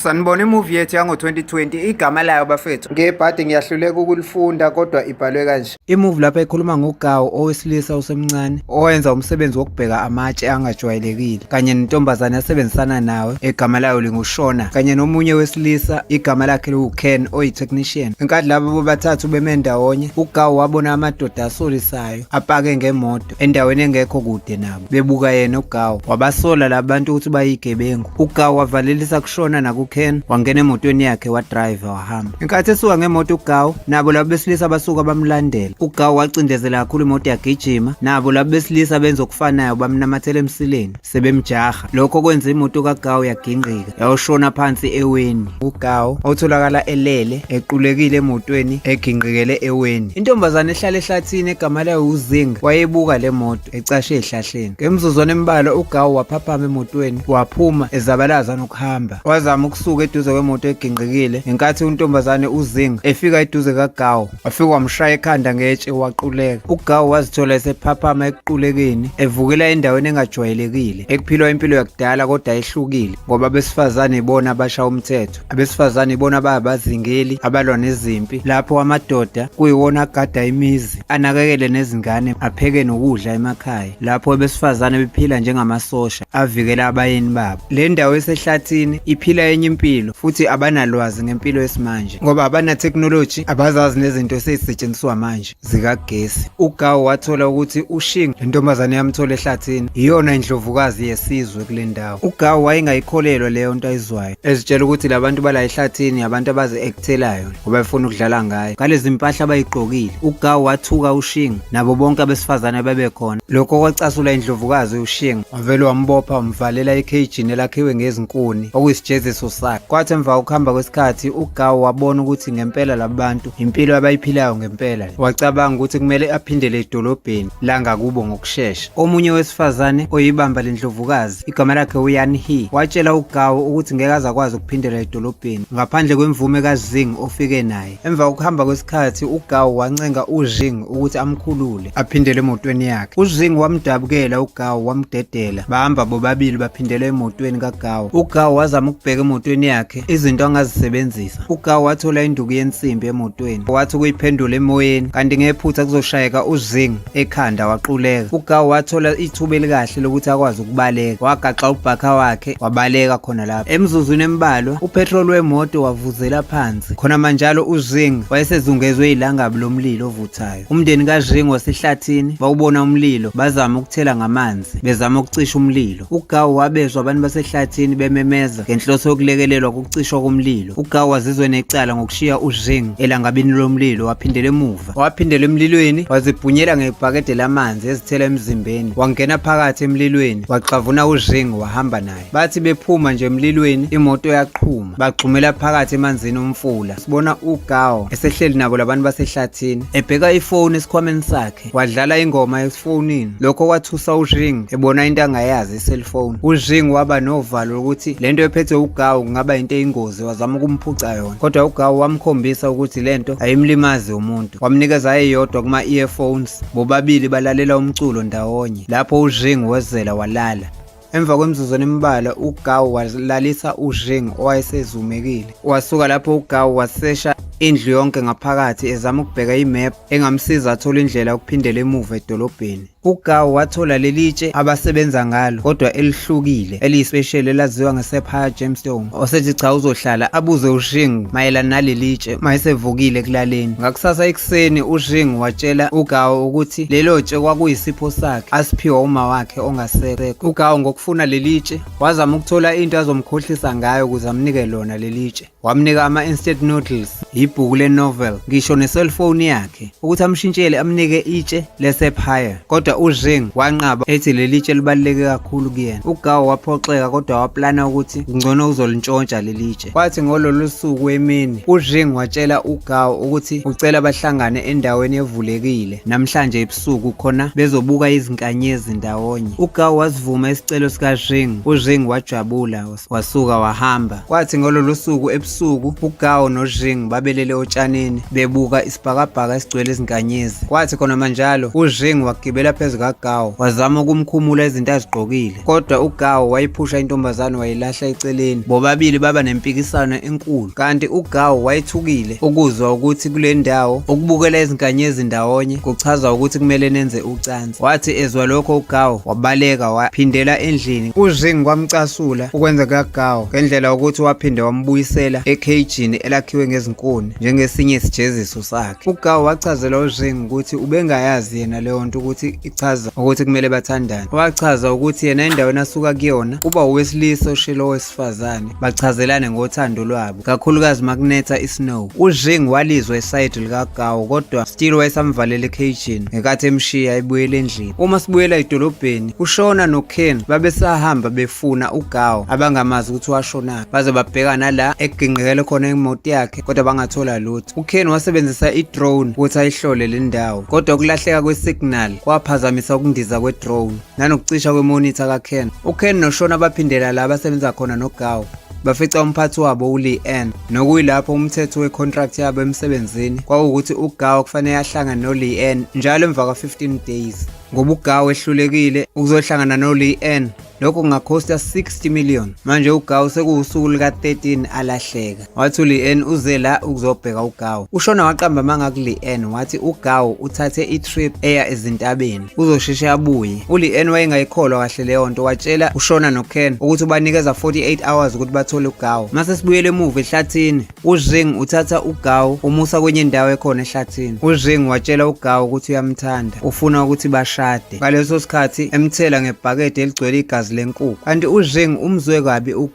Sanibona imovie yethu yango-2020 igama layo bafethu ngebhadi ngiyahluleka ukulifunda kodwa ibhalwe kanje imuvi lapha ikhuluma ngogawu owesilisa osemncane owenza umsebenzi wokubheka amatshe angajwayelekile kanye nentombazane asebenzisana nawe egama layo lingushona kanye nomunye wesilisa igama lakhe liwuken oyi-technician ngenkathi laba bobathathu beme ndawonye ugawu wabona amadoda asolisayo apake ngemoto imoto endaweni engekho kude nabo bebuka yena ugawu wabasola labantu ukuthi bayigebengu ugawu wavalelisa kushona nakuken wangena emotweni yakhe wadriva wahamba inkathi esuka ngemoto ugawu nabo labo besilisa abasuka bamlandela ugawu wacindezela kakhulu imoto yagijima nabo labo besilisa benza okufanayo bamnamathela emsileni sebemjaha lokho kwenza imoto kagawu yagingqika yayoshona phansi eweni ugawu otholakala elele equlekile emotweni egingqikele eweni intombazane ehlala ehlathini egama layo uzinga wayebuka le moto ecashe ehlahleni ngemizuzwana embalwa ugawu waphaphama emotweni waphuma ezabalaza nokuhamba wazama ukusuka eduze kwemoto egingqikile ngenkathi untombazane uzinga efika eduze kagawu wafike wamshaya ekhanda ngetshe waquleka ugawu wazithola esephaphama ekuqulekeni evukela endaweni engajwayelekile ekuphilwa impilo yakudala kodwa ehlukile ngoba abesifazane ibona abasha umthetho abesifazane ibona ababazingeli abalwa nezimpi lapho amadoda kuyiwona agada imizi anakekele nezingane apheke nokudla emakhaya lapho abesifazane bephila njengamasosha avikele abayeni babo. Le ndawo esehlathini iphila enye impilo futhi abanalwazi ngempilo yesimanje ngoba abana-technology abazazi nezinto esezisetshenziswa manje zikagesi. UGawu wathola ukuthi uShing, le ntombazane yamthola ehlathini, yiyona indlovukazi yesizwe kule ndawo. UGawu wayengayikholelwa leyo nto ayizwayo, ezitshela ukuthi la bantu bala ehlathini abantu abazi-ekthelayo. ubefuna ukudlala ngayo ngalezi mpahla abayigqokile ugawu wathuka ushinga nabo bonke abesifazane abebekhona lokho kwacasula indlovukazi ushinga wavele wambopha wamvalela ekhejini elakhiwe ngezinkuni okuyisijeziso sakhe kwathi emva kokuhamba kwesikhathi ugawu wabona ukuthi ngempela labantu impilo abayiphilayo ngempela wacabanga ukuthi kumele aphindele edolobheni langakubo ngokushesha omunye wesifazane oyibamba lendlovukazi Igama lakhe uYan He watshela uGao ukuthi ngeke azakwazi ukuphindela edolobheni ngaphandle kwemvume kaZing ofike naye. Emva kokuhamba kwesikhathi uGao wancenga uZing ukuthi amkhulule aphindele emotweni yakhe. UZing wamdabukela uGao wamdedela. Bahamba bobabili baphindela emotweni kaGao. UGao wazama ukubheka emotweni yakhe izinto angazisebenzisa. UGao wathola induku yensimbi emotweni wathi ukuyiphendula emoyeni kanti ngephutha kuzoshayeka uZing ekhanda waquleka ugawu wathola ithuba elikahle lokuthi akwazi ukubaleka wagaxa ubhakha wakhe wabaleka khona lapho emzuzwini embalwa upetrol wemoto wavuzela phansi khona manjalo uzing wayesezungezwe ilangabi lomlilo ovuthayo umndeni kazing wasehlathini bawubona umlilo bazama ukuthela ngamanzi bezama ukucisha umlilo ugawu wabezwa abantu basehlathini bememeza ngenhloso yokulekelelwa kokucishwa komlilo ugawu wazizwe necala ngokushiya uzing elangabini lomlilo waphindela emuva Waphindela emlilweni wazibhunyela ngebhakede lamanzi ezithela emzimbeni wangena phakathi emlilweni waxavuna uZheng wahamba naye bathi bephuma nje emlilweni imoto yaqhuma bagxumela phakathi emanzini omfula sibona uGao esehleli nabo labantu basehlathini ebheka ifoni esikhwameni sakhe wadlala ingoma esifonini lokho kwathusa uZheng ebona into angayazi cellphone uZhing waba novalo lokuthi lento ephethe uGawu kungaba into eyingozi wazama ukumphuca yona kodwa uGawu wamkhombisa ukuthi lento ayimlimazi umuntu wamnikeza eyodwa kuma earphones bobabili balalela umculo ndawonye lapho uZhing wezela walala Emva kwemizuzwana embalwa uGawu walalisa uZheng owayesezumekile. Wasuka lapho uGawu wasesha indlu yonke ngaphakathi ezama ukubheka imap engamsiza athole indlela yokuphindela emuva edolobheni. UGawu wathola leli tshe abasebenza ngalo kodwa elihlukile eliyisipesheli elaziwa ngeSephaya Gemstone osethi cha uzohlala abuze uShing mayelana naleli tshe mayesevukile ekulaleni. Ngakusasa ekuseni uShing watshela uGawu ukuthi lelo tshe kwakuyisipho sakhe asiphiwa uma wakhe ongasekho. UGawu ngokufuna leli tshe wazama ukuthola into azomkhohlisa ngayo ukuze amnike lona leli tshe. wamnika ama-instant noodles yibhuku le-novel ngisho ne-cellphone yakhe ukuthi amshintshele amnike itshe lesepire kodwa uzheng wanqaba ethi leli tshe libaluleke kakhulu kuyena ugawo waphoxeka kodwa waplana ukuthi kungcono uzolintshontsha leli tshe kwathi ngololu suku emini uzheng watshela ugawo ukuthi ucela bahlangane endaweni evulekile namhlanje ebusuku khona bezobuka izinkanyezi ndawonye ugawo wasivuma isicelo sikazheng uzheng wajabula wasuka wahamba kwathi ngololo suku ebusuku uGao noJing babelele otshanini bebuka isibhakabhaka esigcwele izinkanyezi kwathi khona manjalo uJing wagibela phezu kaGao wazama ukumkhumula izinto azigqokile kodwa uGao wayiphusha intombazane wayilahla eceleni bobabili baba nempikisano enkulu kanti uGao wayethukile ukuzwa ukuthi kule ndawo ukubukela izinkanyezi ndawonye kuchaza ukuthi kumele nenze ucansi Wathi ezwa lokho uGawo wabaleka waphindela endlini. UZing kwamcasula ukwenza kaGawo ngendlela ukuthi waphinde wambuyisela ekhejini elakhiwe ngezinkuni njengesinye isijeziso sakhe. UGawo wachazela uZing ukuthi ubengayazi yena leyo nto ukuthi ichaza ukuthi kumele bathandane. Wachaza ukuthi yena endaweni asuka kuyona uba owesilisa oshilo besifazane bachazelane ngothando lwabo kakhulukazi makunetha isnow ujing walizwa esayidi likagawo kodwa still wayesamvalela ecagin ngekathi emshiya ebuyela endlini uma sibuyela edolobheni ushona noken babesahamba befuna ugawo abangamazi ukuthi washonaphi baze babhekana la egingqekele khona imoto yakhe kodwa bangathola lutho uken wasebenzisa idrone ukuthi ayihlole le ndawo kodwa ukulahleka kwesignal kwaphazamisa ukundiza kwedrone nanokucisha kwemonitha kaKen. UKen noShona baphindela la basebenza khona noGawu bafica umphathi wabo uLeanne nokuyilapho umthetho wecontract yabo emsebenzini kwawukuthi uGawu kufanele ahlangane noLeanne njalo emva kwa-15 days ngoba uGawu ehlulekile ukuzohlangana noLeanne lokho kungakhosta 60 million manje uGawu sekuwusuku luka-13 alahleka wathi uLeanne uze la ukuzobheka uGawu ushona waqamba amanga kuLeanne wathi uGawu uthathe itrip eya ezintabeni uzosheshe abuye uLeanne wayengayikholwa kahle leyo nto watshela ushona noKen ukuthi ubanikeza 48 hours ukuthi bathole uGawu mase sibuyele emuva ehlathini uZing uthatha uGawu umusa kwenye indawo ekhona ehlathini uZing watshela uGawu ukuthi uyamthanda ufuna ukuthi bashade ngaleso sikhathi emthela ngebhakede eligcwele igazi lenkukhu kanti uZing umzwe kabi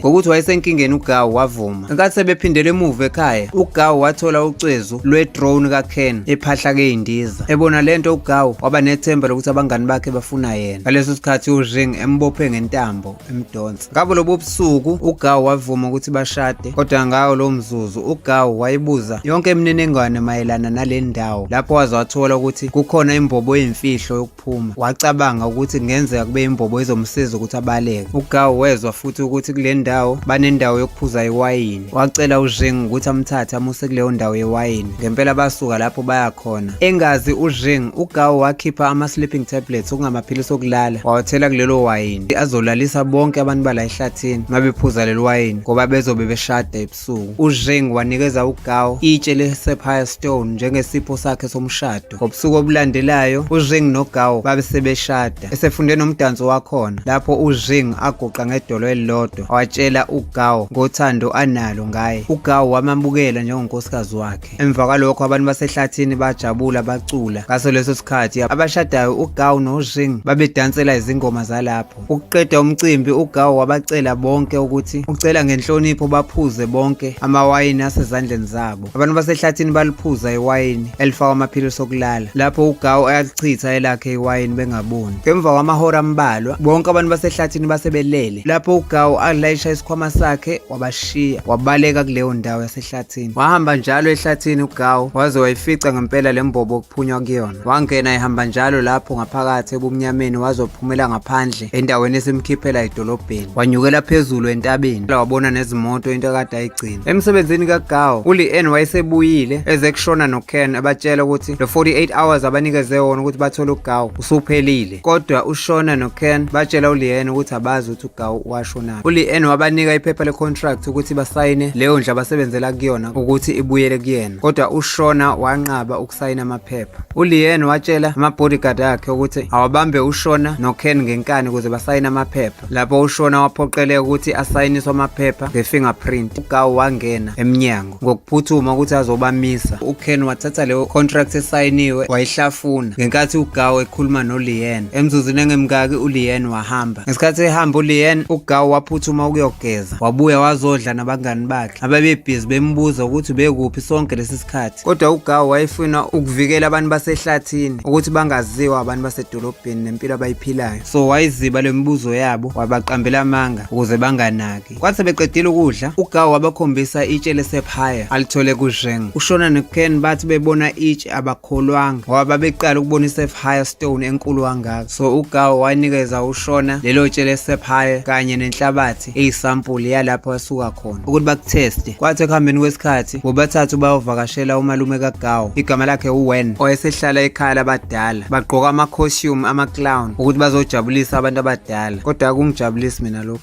ngokuthi wayesenkingeni uGawu wavuma. Ngenkathi sebephindele emuva ekhaya, uGawu wathola ucezu lwe-drone kaKen ephahla keyindiza. Ebona lento uGawu waba nethemba lokuthi abangani bakhe bafuna yena. Ngaleso sikhathi uJing embophe ngentambo emdonsa. Ngabo lobo busuku uGawu wavuma ukuthi bashade, kodwa ngawo lowo mzuzu uGawu wayebuza yonke imininingwane mayelana nale ndawo lapho waze wathola ukuthi kukhona imbobo yemfihlo ukuphuma. Wacabanga ukuthi kungenzeka kube imbobo izomsiza ukuthi abaleke. UGawu wezwa futhi ukuthi kule ndawo banendawo yokuphuza iwayini. Wacela uZheng ukuthi amthathe amuse kuleyo ndawo yewayini. Ngempela basuka lapho baya khona. Engazi uZheng, uGawu wakhipha ama-sleeping tablets okungamaphilisi okulala wawathela kulelo wayini azolalisa bonke abantu bala ehlathini mabephuza leli wayini ngoba bezobe beshada ebusuku. ebusuku, uZheng wanikeza uGao itshe le-sapphire stone njengesipho sakhe somshado. Ngobusuku obulandelayo, uZheng noGao babe sebeshada. Esefunde nomdanso wakhona, lapho uZheng aguqa ngedolo elilodwa, watshela uGao ngothando analo ngaye. UGao wamamukela njengonkosikazi wakhe. Emva kwalokho abantu basehlathini bajabula bacula. Ngaso leso sikhathi abashadayo uGawu noShing babedansela izingoma zalapho. Ukuqeda umcimbi uGawu wabacela bonke ukuthi ucela ngenhlonipho baphuze bonke amawayini asezandleni zabo. Abantu basehlathini baliphuza iwayini elifakwa amaphilisi okulala. Lapho uGawu ayalichitha elakhe iwayini bengaboni. Ngemva kwamahora ambalwa bonke abantu basehlathini basebelele. Lapho uGawu alayisha isikhwama sakhe wabashiya wabaleka kuleyo ndawo yase ehlathini wahamba njalo ehlathini ugawu waze wayifica ngempela le mbobo okuphunywa kuyona wangena ehamba njalo lapho ngaphakathi ebumnyameni wazophumela ngaphandle endaweni esimkhiphela edolobheni wanyukela phezulu entabeni wabona nezimoto into ekade ayigcina emsebenzini kagawu uleann wayesebuyile eze kushona noken abatshela ukuthi lo 48 hours abanikeze wona ukuthi bathole ugawu usuphelile kodwa ushona noken batshela uleanne ukuthi abazi ukuthi ugawu washonaphi uleanne wabanika iphepha lecontract ukuthi basayine leyo ndlu abasebenzela kuyona ukuthi ibuyele kuyena kodwa ushona wanqaba ukusayina amaphepha uleanne watshela ama-bodyguard akhe ukuthi awabambe ushona noken ngenkani ukuze basayine amaphepha lapho ushona waphoqeleka ukuthi asayiniswe amaphepha nge-fingerprint ugawu wangena emnyango ngokuphuthuma ukuthi azobamisa uken wathatha leyo contract esayiniwe wayihlafuna ngenkathi ugaw ekhuluma nolien emzuzini engemkaki ulien wahamba ngesikhathi ehamba ulien ugaw waphuthuma ukuyogeza wabuya wazodla nabangani bakhe ababebhizi bembuza ukuthi bekuphi sonke lesi sikhathi kodwa ugaw wayefuna ukuvikela abantu basehlathini ukuthi bangaziwa abantu basedolobheni nempilo abayiphilayo so wayiziba le mibuzo yabo wabaqambela amanga ukuze banganaki Kwathi sebeqedile ukudla, uGawu wabakhombisa itshe lesephaya alithole kuZheng. UShona noKen bathi bebona itshe abakholwanga ngoba babeqala ukubona isephaya stone enkulu kangaka. So uGawu wanikeza uShona lelo tshe lesephaya kanye nenhlabathi eyisampuli yalapho asuka khona ukuthi bakutheste. Kwathi ekuhambeni kwesikhathi bobathathu bayovakashela umalume kaGawu igama lakhe uWen owayesehlala ekhaya labadala. Bagqoka ama-costume ama-clown ukuthi bazojabulisa abantu abadala kodwa akungijabulisi mina lokhu.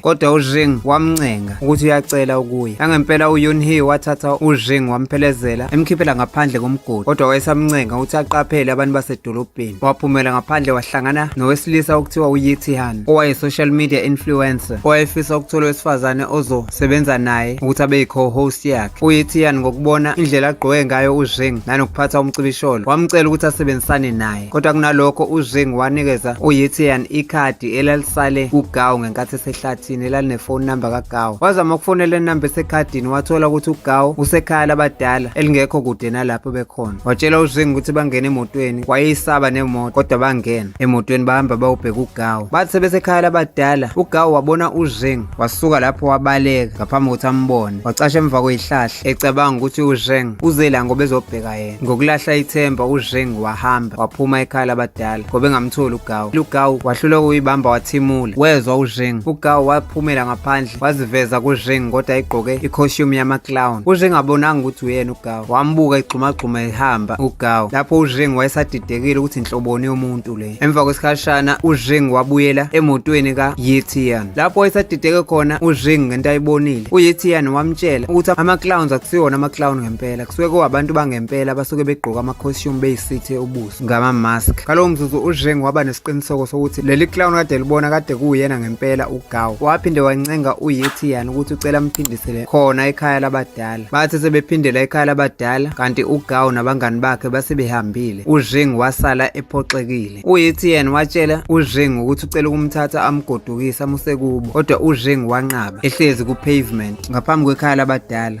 kodwa uZheng wamncenga ukuthi uyacela ukuya. Nangempela uYunhee wathatha uZheng wamphelezela emkhiphela ngaphandle komgodi kodwa wayesamncenga ukuthi aqaphele abantu basedolobheni. Waphumela ngaphandle wahlangana nowesilisa okuthiwa uYitihan owaye-social media influencer owayefisa ukuthola owesifazane ozosebenza naye ukuthi abe yi-co-host yakhe. UYitihan ngokubona indlela agqoke ngayo uZheng nanokuphatha umcibisholo wamcela ukuthi asebenzisane naye. Kodwa kunalokho uZheng wanikeza uYitian ikhadi elalisale kuGao ngenkathi esehlathini elalinefoni number kaGao. Wazama ukufonela inamba esekhadini wathola ukuthi uGao usekhaya labadala elingekho kude nalapho bekhona. Watshela uZheng ukuthi bangene emotweni wayeyisaba nemoto kodwa bangena emotweni bahamba bawubheka uGao. Bathi sebesekhaya labadala uGao wabona uZheng wasuka lapho wabaleka ngaphambi kokuthi ambone. Wacasha emva kweyihlahla ecabanga ukuthi uZheng uzela ngoba ezobheka yena. Ngokulahla ithemba uZheng wahamba waphuma ekhaya labadala ngoba engamtholi uGao. UGao wahluleka ukuyibamba wathimula. Wezwa uZheng. UGao waphumela ngaphandle waziveza kuZheng kodwa egqoke i-costume yama-clown. UZheng abonanga ukuthi uyena uGao. Wambuka egxumagxuma ehamba uGao. Lapho uZheng wayesadidekile ukuthi nhloboni yomuntu le. Emva kwesikhashana uZheng wabuyela emotweni ka-Yetian. Lapho wayesadideke khona uZheng ngento ayibonile. UYetian wamtshela ukuthi ama-clowns akusiwona ama-clown ngempela. kusuke kuwabantu bangempela abasuke begqoka ama-costume beyisithe ubuso ngama-mask ngalowo mzuzu uzheng waba nesiqiniseko sokuthi leli clown kade libona kade kuwuyena ngempela ugaw waphinde wancenga uyetian ukuthi ucela amphindisele khona ekhaya labadala bathi sebephindela ekhaya labadala kanti ugaw nabangani bakhe base behambile uzheng wasala ephoxekile uyetian watshela uzheng ukuthi ucela ukumthatha amgodukise amuse kubo kodwa uzheng wanqaba ehlezi ku-pavement ngaphambi kwekhaya labadala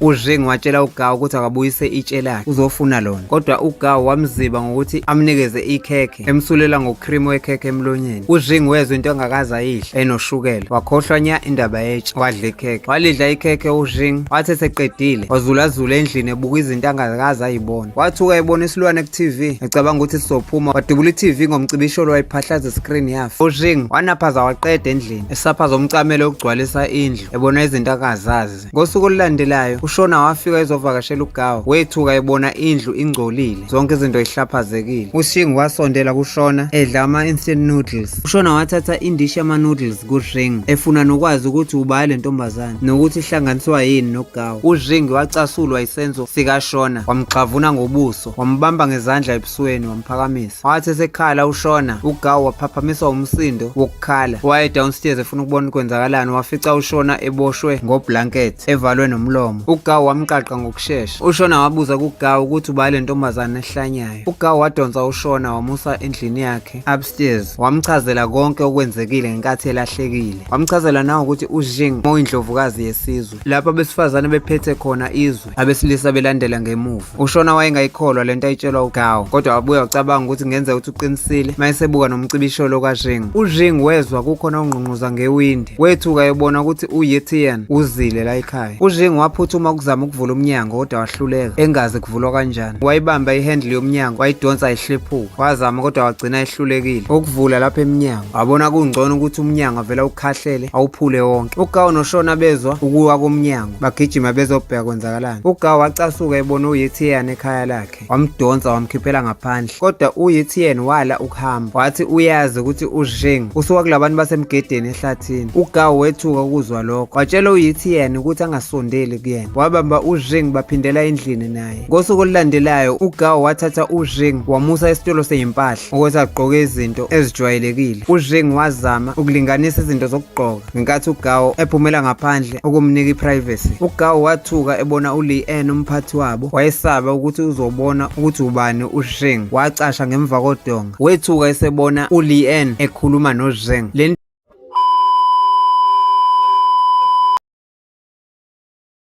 UZheng watshela uGao ukuthi akabuyise itshe lakhe uzofuna lona kodwa uGao wamziba ngokuthi amnikeze ikhekhe emsulela ngocream wekhekhe emlonyeni. UZheng wezwa into engakaze ayidle enoshukela wakhohlwa nya indaba yetshe wadla ikhekhe. Walidla ikhekhe uZheng wathi eseqedile wazulazula endlini ebuka izinto angakaze ayibona. Wathuka ebona isilwane ku-TV ecabanga ukuthi sizophuma wadubula i-TV ngomcibisholo wayiphahlaza i-screen yafa. UZheng wanaphaza waqeda endlini esaphaza umcamelo ukugcwalisa indlu ebona izinto akazazi. Mkhize. Ngosuku olulandelayo uShona wafika ezovakashela uGawu wethuka ebona indlu ingcolile zonke izinto ihlaphazekile. UShingi wasondela kuShona edla ama-instant noodles. UShona wathatha indishi yama-noodles kuRing efuna nokwazi ukuthi ubani le ntombazane nokuthi ihlanganiswa yini noGawu. URing wacasulwa isenzo sikaShona wamgxavuna ngobuso wambamba ngezandla esweni wamphakamisa wathi esekhala ushona ugawu waphaphamiswa umsindo wokukhala waye downstairs efuna ukubona ukwenzakalani wafica ushona eboshwe ngoblanket evalwe nomlomo ugawu wamqaqa ngokushesha ushona wabuza kugawu ukuthi ubale ntombazane ehlanyayo ugawu wadonsa ushona wamusa endlini yakhe upstairs wamchazela konke okwenzekile ngenkathi elahlekile wamchazela nawo ukuthi ujing moyindlovukazi yesizwe lapho abesifazane bephethe khona izwe abesilisa belandela ngemuva ushona wayengayikholwa lento ayitshelwa ugawo kodwa wabuya wacabanga ukuthi ngenza ukuthi uqinisile mayesebuka nomcibisholo kajing ujing wezwa kukhona ongqungquza ngewindi wethuka ebona ukuthi uyetian uzile la ekhaya ujing waphuthuma ukuzama ukuvula umnyango kodwa wahluleka engazi kuvulwa kanjani wayibamba ihandle yomnyango wayidonsa ihlephuka wazama kodwa wagcina ehlulekile ukuvula lapha emnyango wabona kungcono ukuthi umnyango avela ukhahlele awuphule wonke ugawo noshona bezwa ukuwa komnyango bagijima bezobheka kwenzakalani ugawu wacasuka ebona uyitn ekhaya lakhe wamdonsa wamkhiphela ngaphandle kodwa uyitn wala ukuhamba wathi uyazi ukuthi uzheng usuka kulabantu basemgedeni ehlathini ugawu wethuka ukuzwa lokho watshela uyitn ukuthi angasondeli kuyena wabamba uzheng baphindela endlini naye ngosuku olulandelayo ugawu wathatha uzheng wamusa esitolo seyimpahla ukuthi agqoke izinto ezijwayelekile uzheng wazama ukulinganisa izinto zokugqoka ngenkathi uGawo ephumela ngaphandle ukumnika iprivacy. UGawo wathuka ebona uLeanne umphathi wabo, wayesaba ukuthi uzobona ukuthi ubani uZheng. Wacasha ngemva kodonga. Wethuka esebona uLeanne ekhuluma noZheng. Le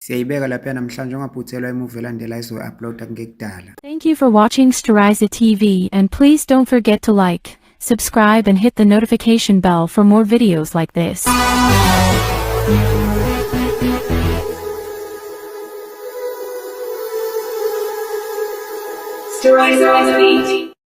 Siyayibeka lapha namhlanje ungaphuthelwa imuvi elandela izoyi-uploada kungekudala. Thank you for watching Steriza TV and please don't forget to like, subscribe and hit the notification bell for more videos like this. Steriza TV.